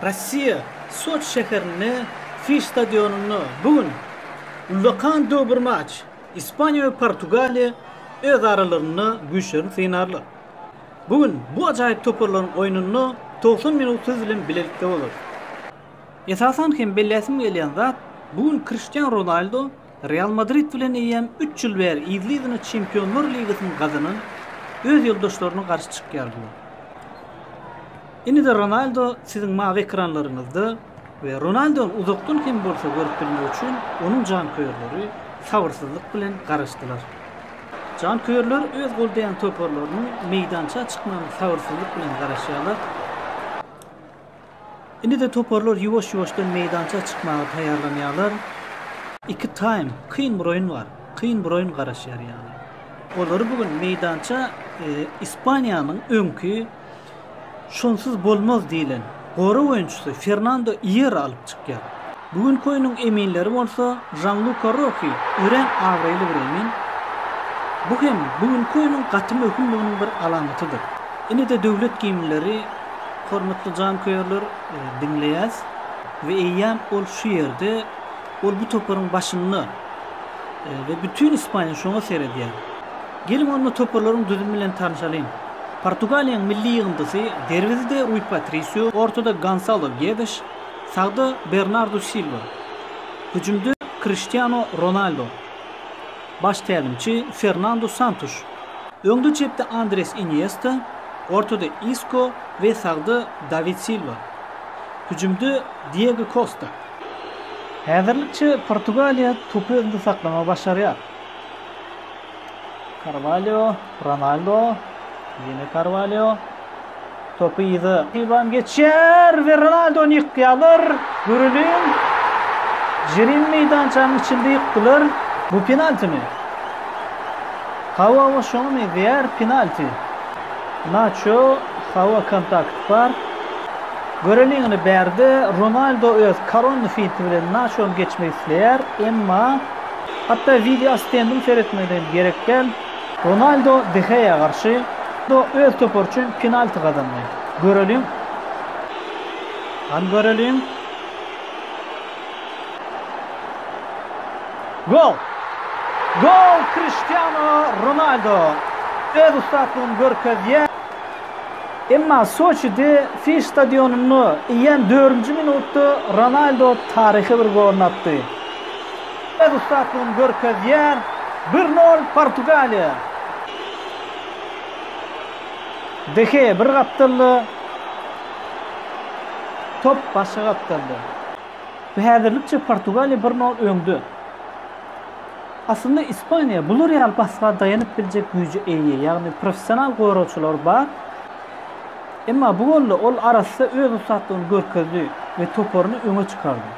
Russiýa, Soçi şäherinde Fiş stadionynda bu gün ullakan döwbir maç, Ispaniýa we Portugaliýa öz aralarynda güýçlerini synarlar. Bu gün bu ajaýyp toparlaryň oýnunda togsan minut siz bilen bilelikde bolarys. Esasan hem belläsim gelýän zat, bu gün Kriştian Ronaldo, Real Madrid bilen eýýäm üç ýyl bäri yzly-yzyna Çempionlar ligasyny gazanan öz ýoldaşlaryna garşy çykýardylar. Indi-de Ronaldo siziň mawy ekranlaryňyzda we Ronaldony uzakdan hem bolsa görüp bilmek üçin onuň janköýerleri sabyrsyzlyk bilen garaşdylar. Janköýerler öz goldaýan toparlarynyň meýdança çykmagyna sabyrsyzlyk bilen garaşýarlar. Indi-de toparlar ýuwaş-ýuwaşdan meýdança çykmaga taýýarlanýarlar. Iki taým, kyn bir oýun bar. Kyn bir oýun garaşýar ýaly. Olary bu gün meýdança Ispaniýanyň öňki şonsuz bolmaz diýlen gorag oýunçysy Fernando Ýera alyp çykýar. Bu günki oýnuň eminleri bolsa Žanluka Roki örän abraýly bir emin. Bu hem bu günki oýnuň gaty möhümliginiň bir alamatydyr. Ine-de döwlet gimnleri, hormatly janköýerler, diňleýäs we eýýäm ol şu ýerde, ol bu toparyň başynda we bütin Ispaniýa şoňa seredýär. Geliň onda toparlaryň düzümi bilen tanyşalyň. Portugaliýanyň milli ýygyndysy, derwezede Rui Patrisio, ortada Gonsalo Gedes, Sagda Bernardu Silwa, hüjümde Kriştiano Ronaldo, baş tälimçi Fernandu Santuş, öňde-çepde Andres Iniesta, ortada Isko we sagda Dawid Silwa, hüjümde Diego Kosta. Häzirlikçe Portugaliýa topy öňde saklamagy başarýar. Karwalýo, Ronaldo, ýene Karwalýo. Topy yza Iwan geçýär we Ronaldony ýykýarlar. Göreliň. Jirin meýdançanyň içinde ýykdylar. Bu penaltimi? Hawa, şoňa meňzeýär penalti. Naço, hawa kontakt bar. Göreliň indi bärde Ronaldo öz koronny finti bilen Naçony geçmek isleýär, emma Hatda wideo assistendim seretmegine hem gerek däl. Ronaldo De Geýa garşy do öz topary üçin penalti gazandy. Göreliň. Hany göreliň. Gol! Gol Kriştiano Ronaldo öz ussatlygyny görkezýär. Emma Soçide Fiş stadionynda eýýäm dördünji minutda Ronaldo taryhy bir goluny atdy. öz ussatlygyny görkezýär, bir nol Portugaliýa. De Gea bir gapdalda, top başga gapdalda we häzirlikçe Portugaliýa bir nol öňde. Aslynda Ispaniýa bular ýaly basga daýanyp biljek güýje eýe, ýagny professional goragçylary bar. Emma bu golda ol arassa öz ussatlygyny görkezdi we toparyny öňe çykardy.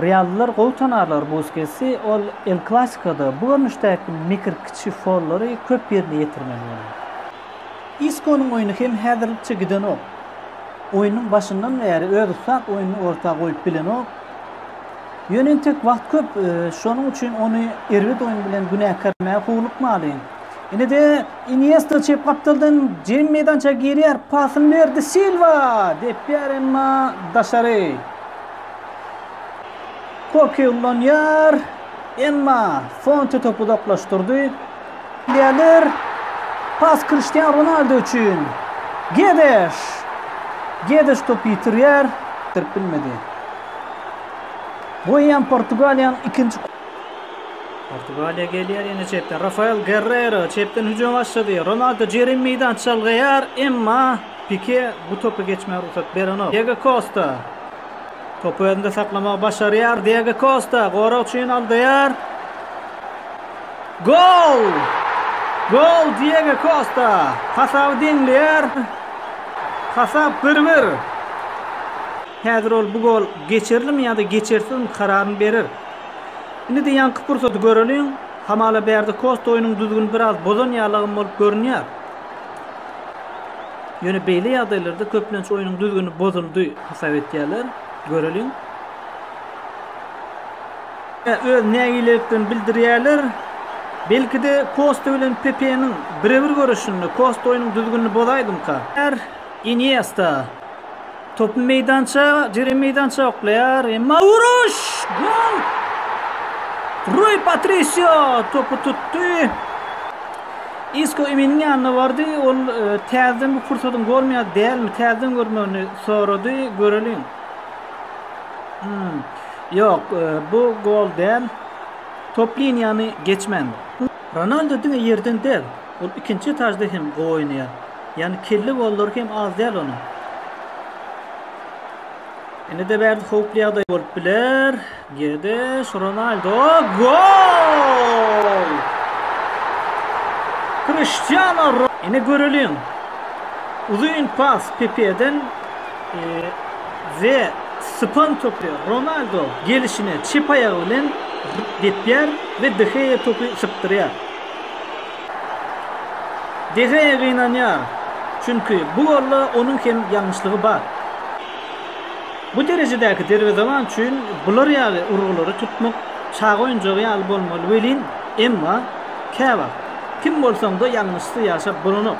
Reallylar gowy tanarlar Buskesi, ol El Klasikoda bu görnüşdäki mekir kiçi follary köp ýerine ýetirmeli bolar. Iskonyň oýny hem häzirlikçe gidenok. Oýnuň başyndan bäri öz ussat oýnuny orta goýup bilenok. Ýöne entek wagt köp, şonuň üçin ony erbet oýun bilen günäkärlemäge howlukmalyň. Ine-de, Iniesta çep gapdaldan jerim meýdançaga girýär, pasyny berdi, Silwa! Depýär, emma daşary. Koke ulanýar. Emma Fonte topy uzaklaşdyrdy. Gelir. Pas Cristiano Ronaldo üçin. Gedeş. Gedeş topy ýitirýär. Tirip bilmedi. Goýýan Portugaliýanyň ikinji Portugaliýa gelýär ýene çepden. Rafael Guerrero çepden hüjüme başlady. Ronaldo jerim meýdança çalgaýar, emma Pike bu topy geçmäge rugsat berenok. Diego Kosta. Topy özünde saklamagy başarýar. Diego Kosta gorag üçin aldaýar. Gol! Gol Diego Kosta. Hasaby deňleýär. Hasap bir-bir. Häzir ol bu gol geçerilimi ýa-da geçersizmi kararyny berer. Indi-de ýaňky pursady göreliň. Hamala bärde Kosta oýnuň düzgüni biraz bozan ýalygam bolup görünýär. Ýöne beýle ýagdaýlarda köplenç oýnuň düzgüni bozuldy hasap edýärler. Göreliň. Öz nägileliklerini bildirýärler. Belki-de Kosta bilen Pepeniň birebir göreşinde Kosta oýnuň düzgünini bozaýdymyka? Iniesta. Topy meýdança, jeren meýdança oklaýar, emma uruş! Gol! Rui Patrisio topy tutdy. Isko Eminiň ýanyna bardy. Ol e, täzeden bu pursadyň golmy ýa dälmi, täzeden görmegini sorady. Göreliň. Hmm. Ýok, e, bu gol däl. Top liniýany geçmän. Ronaldo diňe ýerden däl, ol ikinji etajda hem gowy oýnaýar. Ýagny kelle gollary hem az däl onuň. Ine-de bärde howply ýagdaý bolup biler. Gedes, Ronaldo, gol! Kriştiano Ine göreliň. Uzyn pas Pepeden we sypan topy Ronaldo gelişine çep aýagy bilen depýär we De Gea topy sypdyrýar. De Gea gynanýar, çünki bu golda onuň hem ýalňyşlygy bar. Bu derejedäki derwezeban üçin bular ýaly urgulary tutmak çaga oýunjagy ýaly bolmaly welin, emma käwagt kim bolsaňda ýalňyşsyz ýaşap bolanok.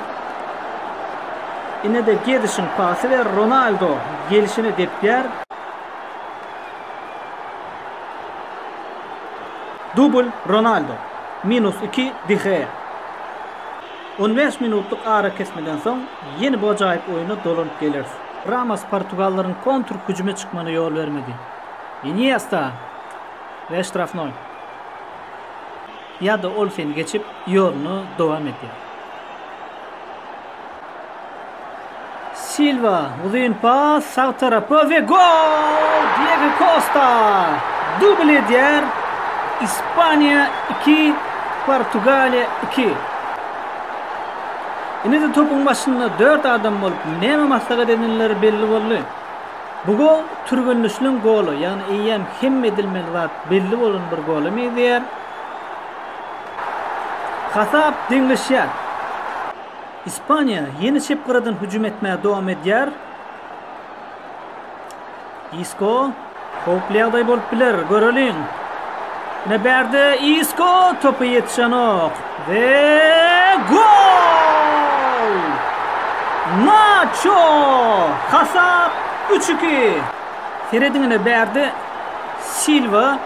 Ine-de Gedişiň pasy we Ronaldo gelşine depýär. Dubl, Ronaldo. Minus iki, De Gea. On bäş minutlyk arakesmeden soň ýene bu ajaýyp oýna dolanyp geleris. Ramos portugallaryň kontrhüjüme çykmana ýol bermedi. Iniesta we ştrafnoý. Ýa-da ol seni geçip, ýoluny dowam edýär. Silwa, uzyn pas, sag tarapa we gol! Diego Kosta dubl edýär. Ispaniýa iki, Portugaliýa iki. Indi-de topuň başynda dört adam bolup, näme maslahat edenleri belli boldy. Bu gol türgenleşilen gola, ýagny eýýäm hemme edilmeli zat belli bolan bir gola meňzeýär. Hasap deňleşýär. Ispaniýa ýene çep gyradan hüjüm etmäge dowam edýär. Isko howply ýagdaý bolup biler, göreliň. Ine bärde Isko topa ýetişenok. We gol! Naço! Hasap üç iki. Serediň ine bärde Silwa.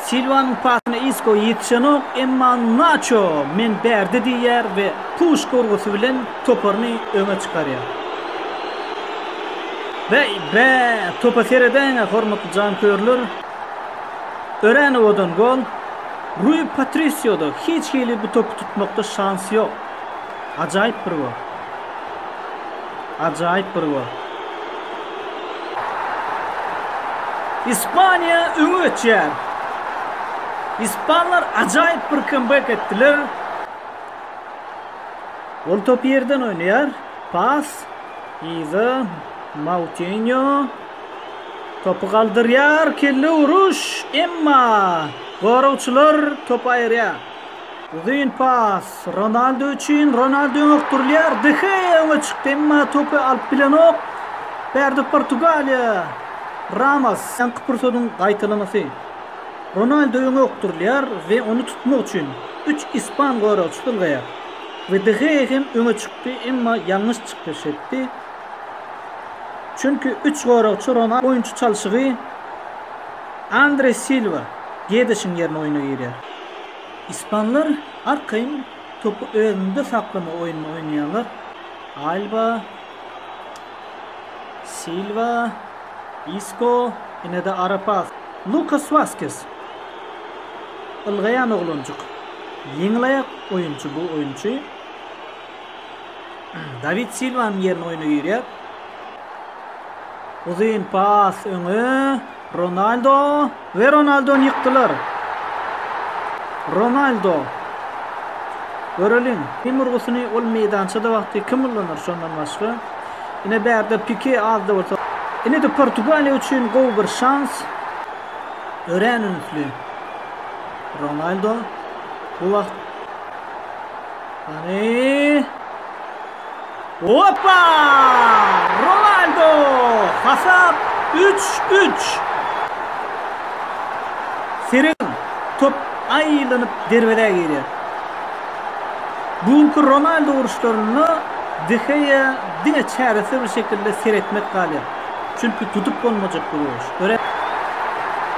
Silwanyň pasyna Isko ýetişenok, emma Naço men bärde diýýär we puşka urgusy bilen toparyny öňe çykarýar. Beý, bä, topa seredäýiň-ä hormatly janköýerler! Örenowadan gol, Rui Patrisioda hiç hili bu topy tutmakda şans ýok. Ajaýyp bir gol. Ajaýyp bir gol. Ispaniýa öňe geçýär. Ispanlar ajaýyp bir kambek etdiler. Ol topy ýerden oýnaýar. Pas. Yza. Moutinho. Topy galdyrýar, kelle uruş, emma goragçylar topy aýyrýar. Uzyn pas Ronaldo üçin, Ronaldo öňokdurylýar, De Gea öňe çykdy, emma topy alyp bilenok. Bärde Portugaliýa, Ramos. Soňky pursadyň gaýtalamasy. Ronaldo öňokdurylýar we ony tutmak üçin üç ispan goragçysy ylgaýar we De Gea hem öňe çykdy, emma ýalňyş çykyş etdi. Çünki üç goragçy Ronaldo oýunçy çalşygy Andre Silwa, Gedişiň ýerine oýna girýär. Ispanlar arkaýyn topy özünde saklama oýnuny oýnaýarlar. Alba, Silwa, Isko, ine-de ara pas. Lukas Waskes. Ylgaýan oglanjyk. Ýeňil aýak oýunçy bu oýunçy. Dawid Silwanyň ýerine oýna girýär. Uzyn pas öňe. Ronaldo we Ronaldony ýykdylar. Ronaldo. Göreliň, kim urgusyny ol meýdançada wagty kim ullanar şondan başga? Ine bärde Pike azda bolsa. Ine de Portugaliýa üçin gowy bir şans. Örän ünsli. Ronaldo bu wagt Hany. Opa! Ronaldo! Hasap 3-3. Seren top aýlanyp derwezä girýär. Bu günki Ronaldo uruşlarynda Deheýa diňe çäresizlik şekilde seretmek galýar. Çünki tutup bolmajak bu uruş.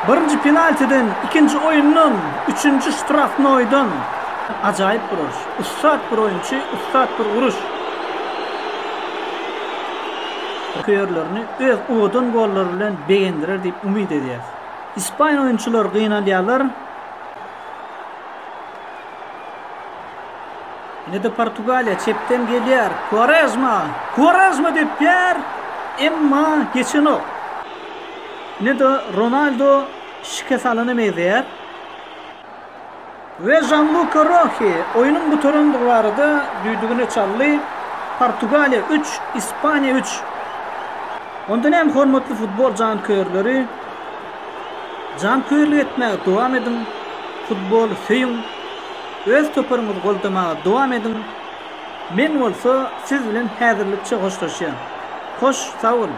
Birinji penaltiden, ikinji oýundan, üçünji ştrafnoýdan ajaýyp bir uruş. Ussat bir oýunçy, ussat bir uruş. Janköýerlerini öz owadan gollary bilen begendirer diýip umyt edýäris. Ispaniýa oýunçylary gynalýarlar. Ine-de Portugaliýa çepden gelýär. Kuarezma! Kuarezma depýär, emma geçenok. Ine-de Ronaldo şikes alana meňzeýär. We Žanluka Rohi oýnuň gutarandygy barada düýdügini çaldy. Portugaliýa üç, Ispaniýa üç. Onda näme hormatly futbol janköýerleri? Janköýerlik etmäge dowam ediň, futboly söýüň, öz toparyňyzy goldamaga dowam ediň. Men bolsa siz bilen häzirlikçe hoşlaşýan. Hoş sagboluň.